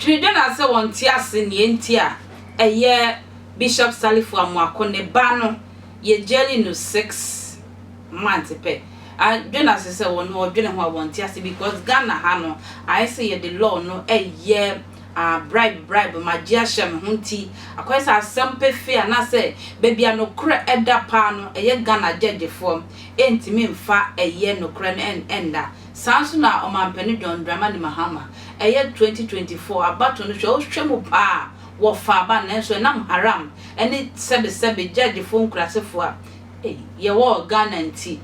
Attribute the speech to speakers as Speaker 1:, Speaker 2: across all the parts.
Speaker 1: Dwendwen a sɛ wɔnte ase nea enti a ɛyɛ Bishop Salifu Amoako ne ba no yɛ gyɛɛli no six months pɛ a, dwen ase sɛ wɔn a wɔdwene ho a wɔnte ase because Ghana ha no ayɛ sɛ yɛde law no yɛ Ah, bribe, bribe, magye ahyɛ me ho nti, akɔyɛ sɛ asɛm pefee anaasɛ baabi a nokorɛ da paa no, ɛyɛ Ghana gyɛgyefoɔ ntumi mfa ɛyɛ nokorɛ no nna. Saa nso na Ɔmampanin John Dramani Mahama, ɛyɛ 2024 abatoɔ no, hwɛ wohwɛ mu paa a, wɔfaa aba, nanso ɛnam haram ne sɛbesɛbe gyɛgyefoɔ nkurasefoɔ a yɛwɔ wɔ Ghana nti,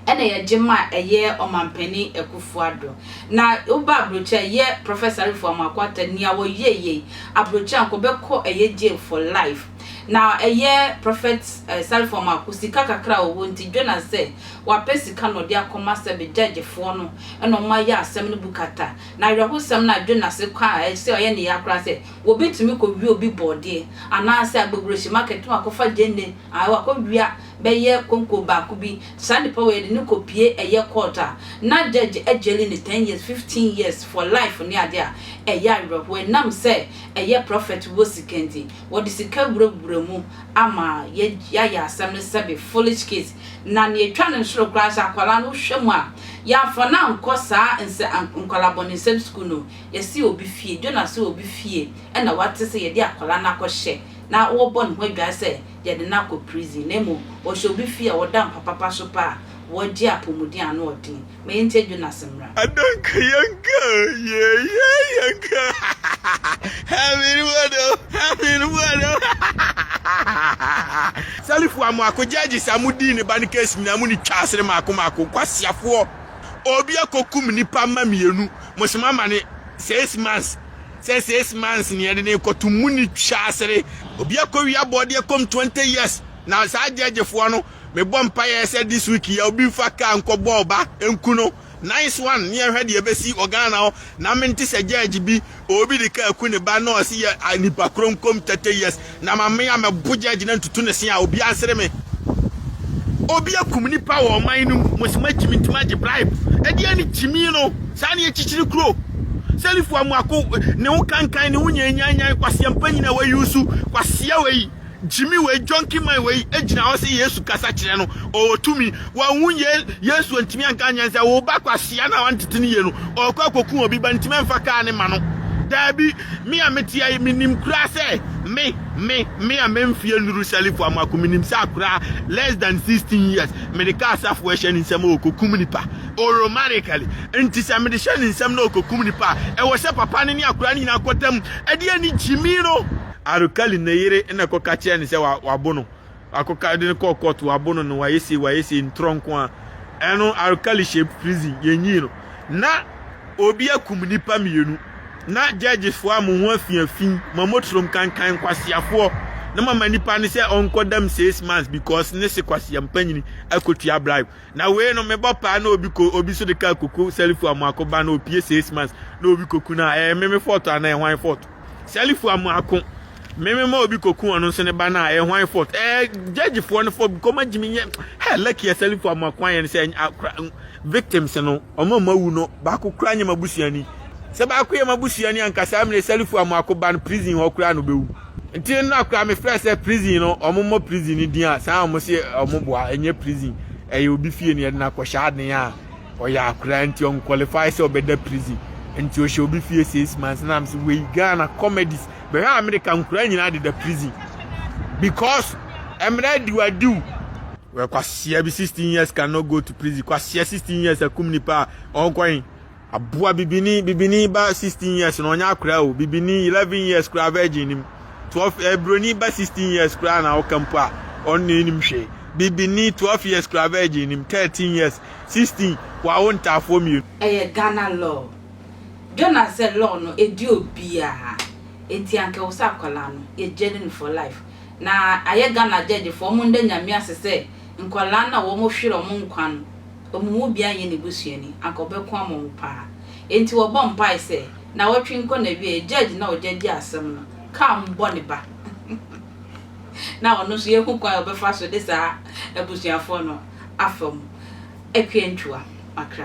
Speaker 1: ɛna yɛgye ma ɛyɛ Ɔmanpanin Akufo-Addo. Na woba Aburokyire a ɛyɛ Prɔfɛsa Arifo Amoako-Atta nea wɔyɛɛ yei. Aburokyire a nka ɔbɛkɔ ɛyɛ jail for life. Na ɛyɛ Prɔfɛt Sarifo Amoako sika kakra a ɔwɔ nti Jonas sɛ wapɛ sika na ɔde akɔma sɛbe gyɛgyefoɔ no ɛna wɔn ayɛ asɛm no bu kata. Na awerɛhosɛm no a Jonas kɔ a ɛsɛ ɔyɛ ne ya koraa sɛ wɔbɛtumi kɔwie obi bɔɔdeɛ anaasɛ Agbogurohyi market na wakɔfa gyeene ae wakɔwia bɛyɛ konko baako bi, saa nnipa wei yɛde no kɔ pie ɛyɛ court a na judge ajaili no ten years, fifteen years, for life ne adeɛ a ɛyɛ awerɛhoɔ ɛnam sɛ ɛyɛ prophet wɔ sika nti, wɔde sika wurawura mu ama yɛayɛ asɛm no sɛbe foolish case na nea ɛtwa no nsoro koraa sɛ akwadaa no wohwɛ mu a yɛamfa no ankɔ saa nsɛ nkwadaa bɔnesɛm school no yɛse obi fie, Jonah se obi fie ɛna wate sɛ yɛde akwadaa no akɔhyɛ na wɔrebɔ ne ho adwae sɛ yɛde no akɔ prison na mmom wɔhyɛ obi fie a ɔda mpa papa so pɛ a wɔgye apɔmuden a ano ɔden ma yɛntie Jonas mmra. Adanka yɛnka
Speaker 2: yeah yeah yɛnka Having what oh having what oh Salif wa mako judges a mo dii ne ba no case nyinaa mo ni twa asene mako mako nkwasiafoɔ obi akokum nipa mma mmienu mo se mo ama ne six months Sɛ six months ni yɛde no rekɔto mu ni twa asere. Obi akɔwie abɔdeɛ kɔm twenty years na saa gyɛɛgyefoɔ no mebɔ mpaeɛ sɛ this week yi a obi nfa car nkɔbɔ ɔba nku no nice one ne yɛnhwɛ deɛ ɛbɛsi wɔ Ghana hɔ na mente sɛ gyɛɛgye bi obi de car ku ne ba na ɔse yɛ nipa koro nkɔm thirty years Na ma me a mɛbo gya agyina ntutu ne se a obiara nsere me. Obi akum nipa wɔ ɔman no mu, mo se magye me nti magye bribe. Ɛdeɛn ne gyimii no? Saa ne akyikyiri kuro. Sɛlifo Amoako, ne ho kankan, ne ho nyanyanyan, kwasea mpanyin a wɔayusu, kwasea wei, gyimi wei, junkie man wei gyina hɔ se Yesu kasa kyerɛ no, ɔwɔ tumi. Wanhu ye, Yesu antumi anka ankyerɛ no sɛ wo ba kwasea no a wantete no yie no, ɔrekɔ akɔku obi ba, ntumi amfa kaa no mma no. Daabi! Me a mete ha yi, menim koraa sɛ me, me, me a memfeɛ nnuru Salifo Amoako, menim sɛ akoraa less than 16 years, mede kaa Asafo a ɛhyɛ ne nsam a ɔkɔkum nipa, oromanically. Nti sɛ mede hyɛ ne nsam na ɔkɔkum nipa a, ɛwɔ sɛ papa no ne akoraa no nyinaa kɔtam de ani gyimi no. Arukali ne yere na ɛkɔka kyerɛɛ no sɛ wabo no. Akokar de no kɔɔ court wɔabono no wɔayɛ sei wɔayɛ sei ntorɔ nko a ɛno Alkali hyɛ prison yɛnyii no na obi akum nnipa mmienu na judge foɔ a mo ho afi afi ma motrom kankan nkwaseafoɔ na mama nnipa no sɛ ɔnkɔ dam six months because ne se kwasea mpanyini akɔtua bribe na wei no mebɔ paa na obi ko obi so de kaa koko sɛlifo a mo akɔba na opie six months na obi koku no a ɛyɛ meme fɔɔto anaa ɛhwan fɔɔto Sɛlifo amoako me me ma obi koku ɔno nso ne ba no a ɛyɛ hwan fort ɛɛ gyɛgyefoɔ no fɔ kɔma gyimi nyɛ hɛ lɛki ɛsɛlifo amoako ayɛ no sɛ akora victims no ɔma ma wu no baako kura nyɛ ma busuani sɛ baako yɛ ma busuani ankasa amene sɛlifo amoako ba no prison hɔ kura no bɛwu nti no akora me frɛ sɛ prison no ɔmo mmɔ prison no din a saa ɔmo se ɔmo boa ɛnyɛ prison ɛyɛ obi fie no yɛde no akɔhyɛ aden a ɔyɛ akwadaa nti ɔn qualify sɛ ɔbɛda prison nti ɔhyɛ obi fie six months na am sɛ wei ghana comedies bɛhwɛ america nkwadaa nyinaa deda prison because mmerɛ adiwadiw wɛ kwasia bi sixteen years cannot go to prison kwasia sixteen years akum nipa a ɔnkɔyin aboa bibini bibini ba sixteen years na ɔnyɛ akwadaa o bibini eleven years koraa virgin nim. twelve ɛɛ eh, broni ba sixteen years koraa na ɔka mpo a ɔno na enim hwee bibini twelve years koraa virgin nim thirteen years sixteen wawo ntaafoɔ mmienu. Ɛyɛ Ghana law.
Speaker 1: Jonas sɛ law no ɛdi obiaa nti anka ɛwɔ sɛ akwadaa no yɛ gyɛde no for life na ayɛ Ghana judge foɔ ɔmo nda Nyame ase sɛ nkwadaa no a wɔn hwere ɔmo nkwa no wɔn mu biara nyɛ ne busuani, anka ɔbɛko ama wɔn paa. Enti wɔbɔ mpae sɛ, Nnawɔtwe nkɔ n'awiei, Judge no a ogya di asɛm no, kaa mo bɔ ne ba. Ná ɔno nso yɛahu kwan a ɔbɛfa so de saa abusuafo no afa mu akuantwa makra.